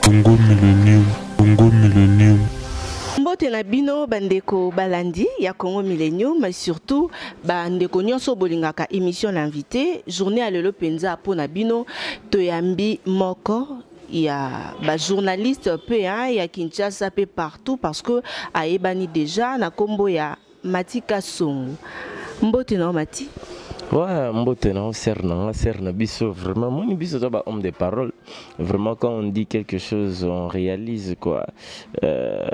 Congo Millennium, Congo Millennium. mbote na bino bandeko balandi ya congo millennium mais surtout bandeko nyonso bolingaka émission na invité journée ya lelo mpenza mpo na bino toyambi moko ya bajournaliste mpe ya kinshasa mpe partout parce que ayebani déjà na nkombo ya Mati Kasongo. Mbote na Mati. Ouais, mbote na sœur na nga sœur na biso vraiment moni biso za ba homme de parole vraiment quand on dit quelque chose on réalise quoi euh,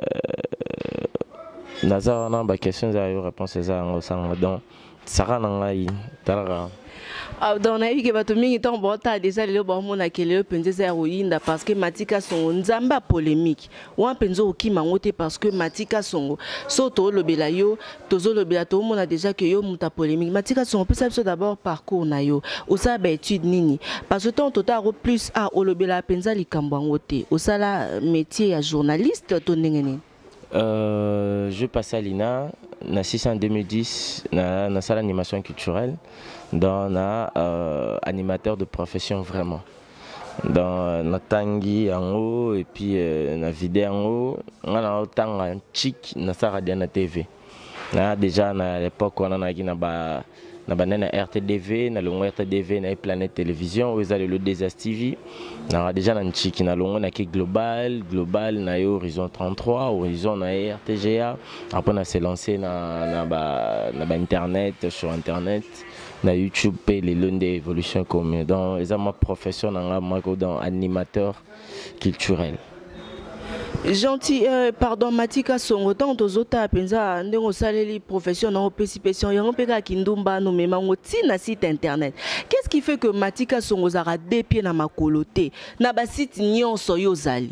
naza wana ba questions za yo réponse eza yango sanga donc saka na ngai talaka ah, donc nayebi ke bato mingi ntango baotala deja lelo baomonaka lelo mpenza eza ya koyinda parce que matika songo nzambe ya polémique wana mpenza okima yango te parce que matika songo so tolobela yo tozolobela toomona déjà que yo moto ya polémique matika songo pesa biso d'abord parcours na yo osala baétude nini parce que ntango totala yango plus a ah, olobelaka mpenza likambo yango te osala euh, métier ya journaliste to ndenge nini Euh, je passe à l'INA, na 6 en 2010, na, na salle d'animation culturelle, dans na euh, animateur de profession vraiment. dans natangi yango et puis euh, na vide yango nga na otanga chic na saka dia na TV na déjà na l'époque wana naki na ba na banda na rtdv na longo rtdv na ye planète télévision oyo eza lelo dsa tv nanga déjà na ntshiki na longo nake global global na ye horizon 33 horizon na ye rtga apres na se lance na, na, ba, na ba internet sur internet na youtube mpe lelo nde évolution ekomi donc eza ma profession na ngai mako donc animateur culturel gentil euh, pardon matika songo ntango tozotala mpenza ndenge osaleli profession na opesi pesion yango mpe kaka kindumba nomema yango ti na site internet qu'est ce qui fait que matika songo ozalaka de pied na makolo te na basite nyonso yo ozali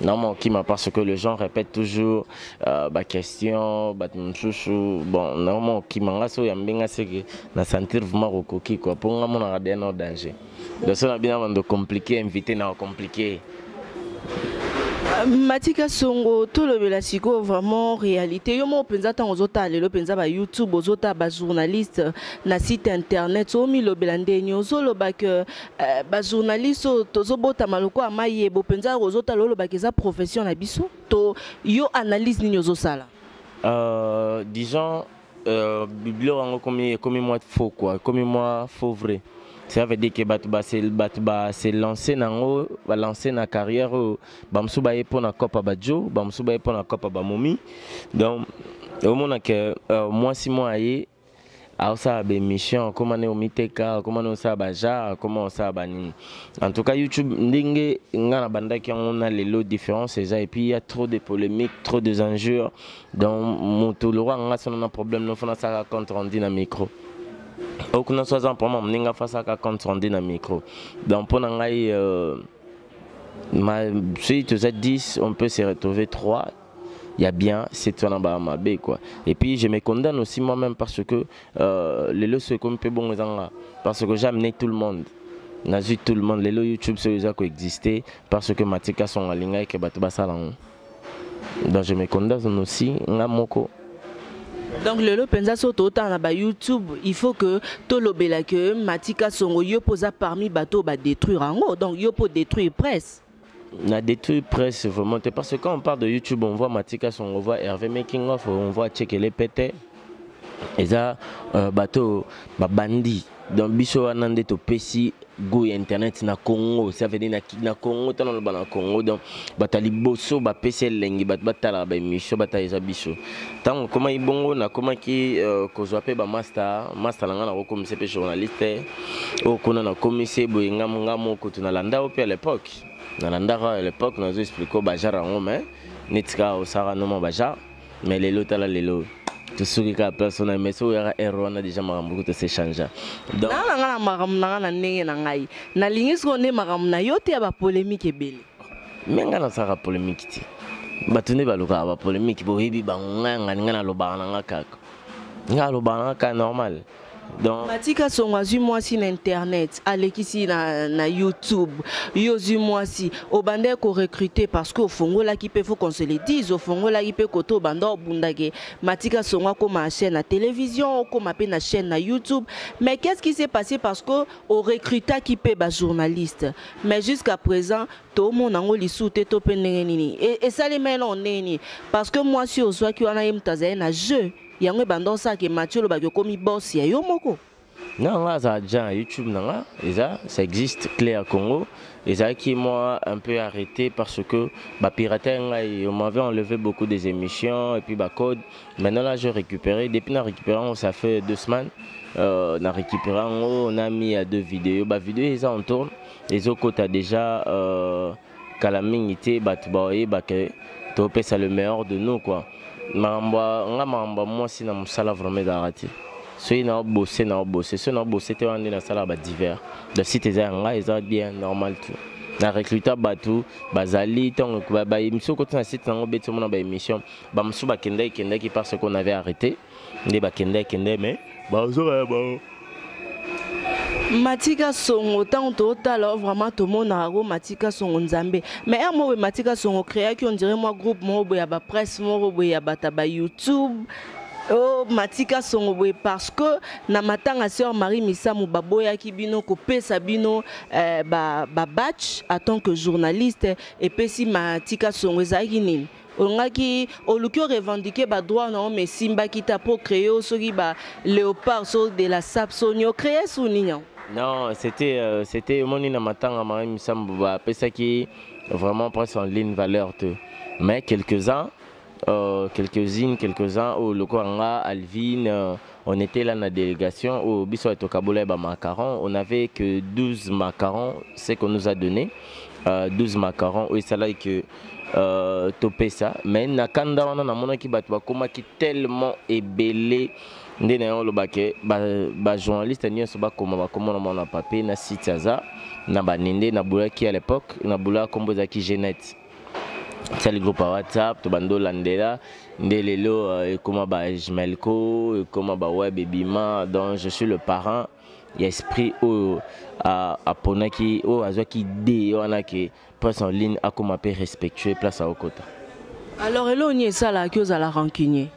na mokima parce que les gens répètent toujours euh, baquestion bato mosusu bon na mokima nga so oyambi nga seke na sentir vraiment kokoki kua mpo nga monaka deya nao danger donc so na bino bando compliqué invité na compliqué matika songo tolobela sikoyo vraiment réalité yo moko mpenza ntango ozotala lelo mpenza ba youtube ozotala bajournaliste na site internet omilobela ndeni ozoloba ke Eh, ba journaliste oyo tozobotama lokola mayebo mpenza kozotala olobaka eza profession na biso to yo analyse nini ozosala euh, disons euh, biblio yango ekomi ekomi mwa faux quoi ekomi mwa faux vrai ça veut dire que bato bato base lance na yango balance na carrière oyo bamosusu baye mpo na copa bajo bamosusu baye mpo na copa bamomi donc omona ke euh, mwasi moko aye aosala baemission akoma ne omiteka akoma ne osala bajar akoma osala banini en tout cas youtube ndenge ngai nabandaki yango na lelo différence eza epuis ya trop de polémique trop des injures donc moto lokola ngai sono na problème nofo nasalaka compte rendu na micro okuna so aza na problème amoni ngai fasaka compte rendu na micro donc mpo na ngai euh, ma, soki toza 10 on peut se retrouver 3 il y a bien cette fois naba mabe quoi et puis je me condamne aussi moi même parce que euh, les lois sont comme peu bon ezanga parce que j'ai amené tout le monde nazui tout le monde lelo youtube soki eza koexiste parce que matika songa alingaki ke bato basala yango donc je me condamne aussi nga moko donc lelo mpenza so totala na bayoutube il faut que tolobela ke matika songo yo mpo oza parmi bato oyo badétruire yango donc yo mpo détruire presse na détruit presse vraiment te parce que quand on parle de youtube on voit matika son on voit hervé making of on voit tchekele pete eza euh, bato babandi donc biso wana nde topesi goût ya internet na congo ça veut dire na, na congo ntango naloba na congo donc bato ya liboso bapesi elengi bato batalaka baémission batala eza biso ntango okomaki bongo nakomaki uh, kozwa mpe bamasta masta na ngai nakokomisa mpe journaliste oyo kuna nakomisi eboye ngambo ngambo kutu nalanda yo mpe à l'époque nalandaka à l'époque nazo explike o bajar yango mai neti kaka osaka noma bajar mais lelo tala lelo tosuki kaka place wana mais soki oyaka ere wana deja makambo kutu esechangea nanga na ngai na makambo na ngai na ndenge na ngai nalingi sikoyo nde makambo na yo te ya bapolemike ebele me ngai nasalaka polemiki te bato nde balukaka bapolemiki boyebi bango ngai yangani ngai nalobaka na ngai kaka ngai alobaka na ngai kaka normal donc batika songo azwi mwasi na internet alekisi na, na youtube yo ozwi mwasi obandaki korecrute parce que ofongolaki mpe faut qu'on se le dise ofongolaki mpe kote obanda obundake matika songo akóma chaîne na télévision okóma mpe na chaîne na youtube mais qu'est ce qui s'est passé parce que o recrutaki mpe ba journaliste mais jusqu'à présent tomona yango lisusu te to mpe ndenge nini esalema eloko ndenge nini parce que mwasi ozwaki wana ye moto azali na jeu yango ebanda osala ke mati olobaki okomi boss ya yo moko na nga aza agent youtube na nga eza ça existe claire congo ezalaki moi un peu arrêté parce que bapirate ngai on m'avait enlevé beaucoup des émissions et puis bacode Maintenant là, j'ai récupéré. Depuis na récupéré, ça fait deux semaines. Euh, na récupéré, on a mis à deux vidéos. Bah vidéo, ils en tournent. Les autres côtés déjà euh, kala mingi te bato baoyeba ke topesa le meilleur de nous quoi makambo nga makambo ya mwasi na mosala vraiment ezalaka te soki na obose na obose soki na obose te wana nde nasalaka badivers da site eza ya ngai eza bien normal tout na recruta bato bazali ntango bayemisio koti na site nango beti omona baémission bamosusu bakendaki kendaki parce qu'on avait arrêté nde bakendaki kende mais bazoka ya bango matika songo ntango totala oh, vraiment tomonaka ko matika songo nzambe mais heure moko boye matika songo créaki ondire mwa groupe moko boye ya bapresse moko boye ya bato ya bayoutube Oh, matika songo boye parce que na matanga sœur marie misamu baboyaki bino kopesa bino eh, babatch ba à tant que journaliste epesi matika songo ezalaki nini olingaki oluki o revendiquer ba droit na yo mais esimbaki te apres ocree yo soki ba léopard so de la sap so nini ocree su nini yango non c'était euh, c'était omoni na matanga ma misambo bapesaki vraiment presse en ligne valeur te mais quelques-uns euh, quelques-unes quelques-uns oyo oh, lokola nga alvine euh, On était là na délégation où oh, biso tokabola ba macarons, on avait que 12 macarons, ce qu'on nous a donné. Euh, 12 macarons où ça là que euh, topesa mais na kanda wana namonaki bato bakomaki tellement ebele nde na yango olobake bajournaliste nyonso bakoma bakoma na mwana papier na site aza na banende na bulaki à l'époque na bula nkombo ezalaki genete sali groupe ya whatsapp to bando landela nde lelo euh, ekoma ba jmelco ekoma ba web ebima donc je suis le parent ya esprit oyo aponaki oyo azwaki idee wana ke presse en ligne akoma mpe respectueux place akokota alors eloko nini esalaki ozala rancunier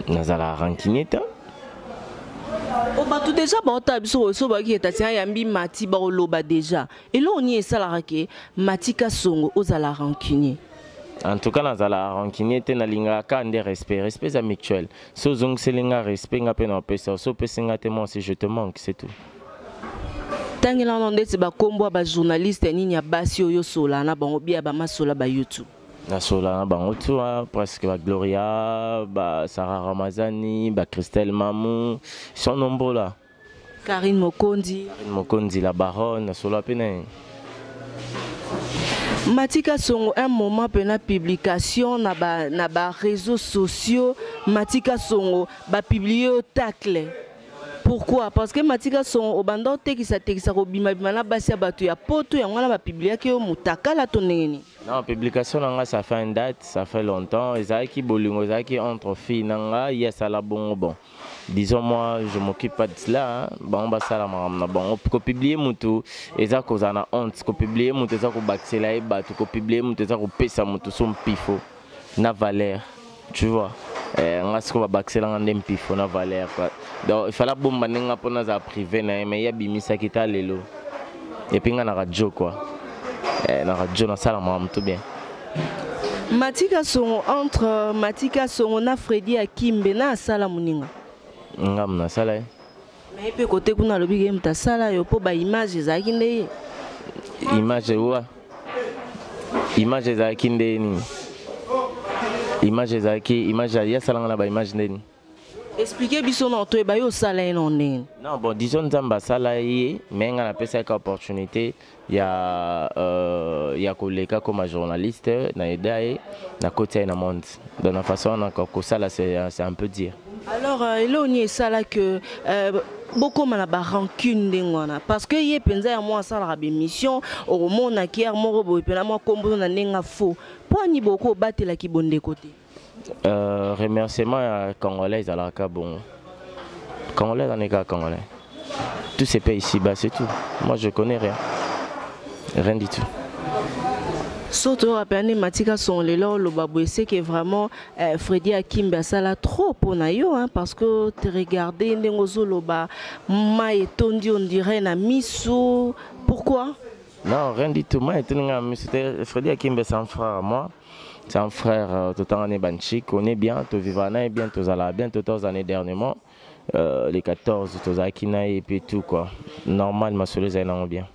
nazala rancunier te oh, bato deja baotala biso oso bayaki ke tatiana yambi mati baoloba deja eloko nini esalaka ke mati kasongo ozala rancunier en tout cas nazala rancunier te nalingaka kaka nde respect respect eza mutuel so ozongiseli nga respect nga mpe na opesa so opesi nga te moi si je te manque c'est tout tangelana ndeti bakombo ya bajournaliste nini ya basi oyo osola na bango bia bamasola ba youtube nasola na bango tu wana presque ba gloria ba sara ramazani ba christelle mamu son nombo la karine mokonzi karine mokonzi la baronne nasola mpe na ye matika songo un moment mpe na publication na ba, na ba réseaux sociaux matika songo bapublie yo tacle pourquoi parce que matika songo obanda otekisatekisa kobimabima na basi ya bato ya poto yango wana bapibliaki yo motakala to ndenge nini Non, publication na nga ça fait une date, ça fait longtemps. Ezalaki bolingo, ezalaki entre filles na nga, ye asala bongo bon. Disons moi, je m'occupe pas de cela. Hein. Bango basala makambo na bango. Ko publier mutu eza kozala na honte, ko publier mutu eza kobakisela ye batu, ko publier mutu eza kopesa mutu so mpifo. na valeur tu vois eh, nga siko babakisela nga nde mpifo na valeur quoi donc il fallait abomba nde nga mpo nazala privé na ye mais ye abimisaki ta lelo epuis nga na radio quoi eh, na radio nasala makambo tout bien matika songo entre euh, matika songo na fredi akimbe na asala moninga ngambo nasala ye na ye mpe kote kuna alobi ke moto asala yo mpo baimage ezalaki nde ye image wa image ezalaki nde nini image ezalaki image ye asalanga na baimage nde nini explike biso na toyeba yo osala ye na ndenge non bon disons nzambe asala ye me ngai napesaki opportunité ya euh, ya koleka koma journaliste na eda ye nakoti ye na monde donc na façon wana kosala c'est un peu dire alors euh, eloo nini esala que euh, bokoma na barancune ndenge wana parce que ye mpenza ya mwa asalaka bémission okomona kiare moko boye mpena mwa nkombo na ndenge ya faux mpo ani bokobatela kibondeko te Euh, remerciement ya congolais ezalaka kaka bongo congolais ezalani kaka congolais tout se paye ici bas c'est tout moi je connais rien rien du tout surtout oyo apeyani matika songo lelo oloba boye seke vraiment eh, fredi akimbi asala trop mpo na yo hein, parce que te regarde ndenge ozoloba mai etondi on dirait na misu pourquoi non rien du tout mai etondi ngai na misu te fredi akimbi esan frère moi C'est un frère, euh, tout en Banchi, on est bien, tout vivant, on est bien, tout à bien, tout aux années dernièrement. Euh, les 14, tout à et puis tout quoi. Normal, ma soeur, c'est bien.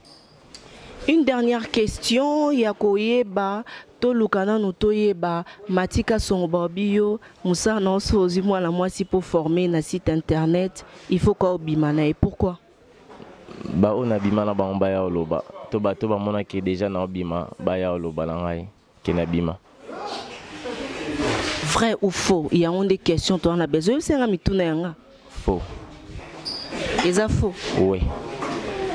Une dernière question, Yakoyeba, toluka nanu toyeba matika songo babi yo mosala na oso ozwi mwana mwasi mpo forme na site internet il faut ka obima na ye pourquoi ba oyo nabima na bango baya oloba to bato bamonaki deja na obima baya oloba na ngai ke nabima vrai ou faux yango nde question toa na besoin oyebisa yanga mituna yanga faux eza faux oui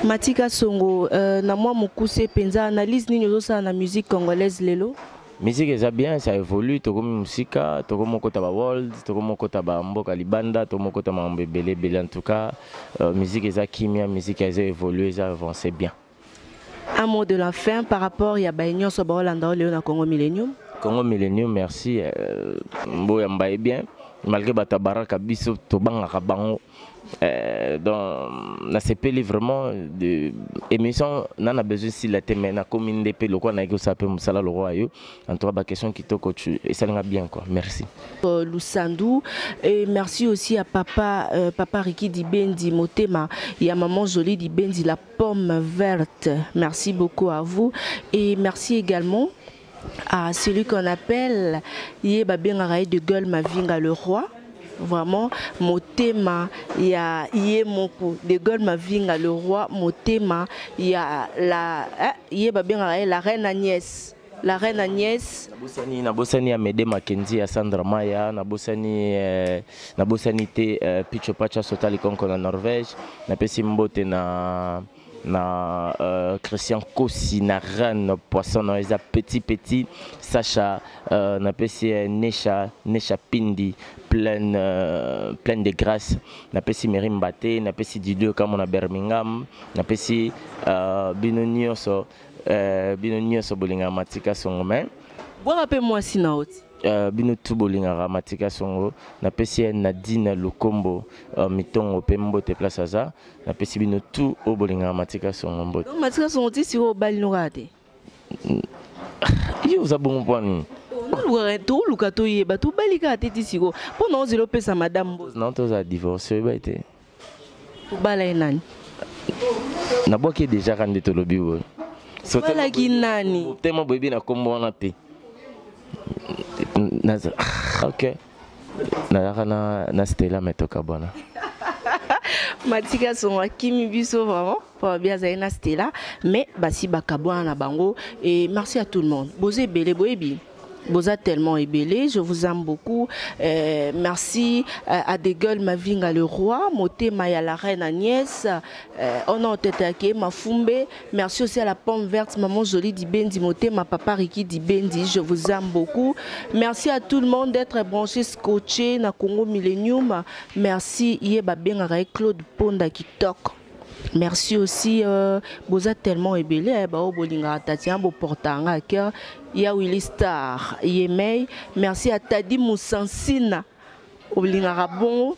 matika songo euh, na mwa mokuse mpenza analyse nini ozosala na musique congolaise lelo Musique eza bien, ça évolue, tokomi musika, tokomi okota ba world, tokomi okota ba mboka libanda, tokomi okota mambo ebele ebele en tout cas, euh, musique eza kimia, musique eza évolue, eza avancer bien. Un mot de la fin par rapport ya ba nyonso ba Hollanda oyo leo na Congo Millennium. Congo Millennium, merci. Euh, Mboya mbaye bien. Malgré batabaraka biso tobangaka bango. Euh, donc nasepeli vraiment de émission na na besoin sila te mais nakomi nde mpe lokola nayaki kosala mpe mosala lokola yo en tout cas baquestion kitoko esalinga bien quoi merci euh, lusandu et merci aussi à papa euh, papa riki dibendi motema et à maman jolie dibendi la pomme verte merci beaucoup à vous et merci également Ah, celui qu'on appelle, ye babengaka ye de gueule Mavinga le roi. vraiment motema ya ye moko de gol mavinga le roi motema ya la eh, ye babengaka ye la reine agnès la reine agnès nabosani nabosani ya mede makenzi ya sandra maya nabosani eh, nabosani te eh, picho pacha sota likonko na norvège napesi mbote na na euh, christian kosi na ran poisson na eza petit petit sacha euh, napesi ye nesha nesha pindi pleine, euh, pleine de grâce napesi meri mbate napesi didio kamo na birmingham napesi euh, bino nyonso euh, bino nyonso bolingaka matika songo mai bwaka mpe mwasi na oti Euh, bino tu bolingaka matika songo napesi ye nadine lukombo uh, mitongo mpe mbote place aza napesi bino tout oyo bolingaka matika songo mbote Donc matika songo ti sikoyo obali no kaka te yo oza bongo mpo ya nini tolukaka toluka toyeba tobali kaka te ti sikoyo mpo na ozela opesa madame mbote na tozala divorce oyebai te obala ye nani nabwaki ye deja ka nde tolobi boye obalaki nani tellement boyebi na nkombo wana te Naza- ok nayaka na, na stela me tokabwana matiki asongo akimi biso vraiment mpo babi azali na stela mais basi bakabwana na bango et merci à tout le monde boza ebele boyebi boza tellement ebele je vous aime beaucoup euh, merci euh, à des gueules mavinga le roi motema ya la reine agnès euh, oh non tete ake mafumbe Merci aussi à la pomme verte, maman Jolie Dibendi, Motema, papa Ricky Dibendi, je vous aime beaucoup. Merci à tout le monde d'être branché, scotché, na Congo Millennium. Merci, Yeba Bengarae, Claude Ponda, Kitok. Merci aussi, euh, Boza tellement ébélé, eh, Bao Bolinga, Tatiana, Boportanga, à cœur, Ya Willy Star, Yemei. Merci à Tadi Moussansina, Oblingara Bongo.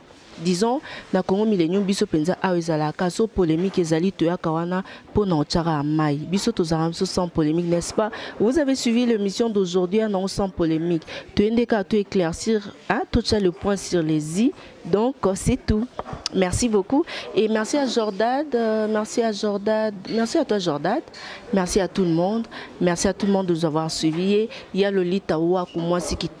disons na Congo millennium biso penza awa ezalaka so polemique ezali toyaka wana mpo na otyaka ya mai biso tozalaka biso sans polemique n'est-ce pas vous avez suivi l'émission d'aujourd'hui ya nango sans polemique toyende kaka to éclaircir hein, totya le point sur les i donc c'est tout merci beaucoup et merci à Jordad euh, merci à Jordad merci à toi Jordad merci à tout le monde merci à tout le monde de nous avoir suivi et ya Lolita Waku mwasi kitoko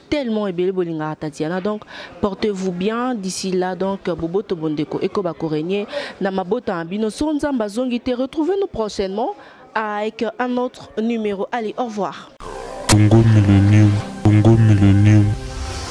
tellement ebele bolingaka tatiana donc portez vous bien d'ici là donc boboto bondeko ekoba koregne na mabota na bino so nzambe azongi te retrouvez nous prochainement avec un autre numéro allez au revoir Congo Millennium, Congo Millennium.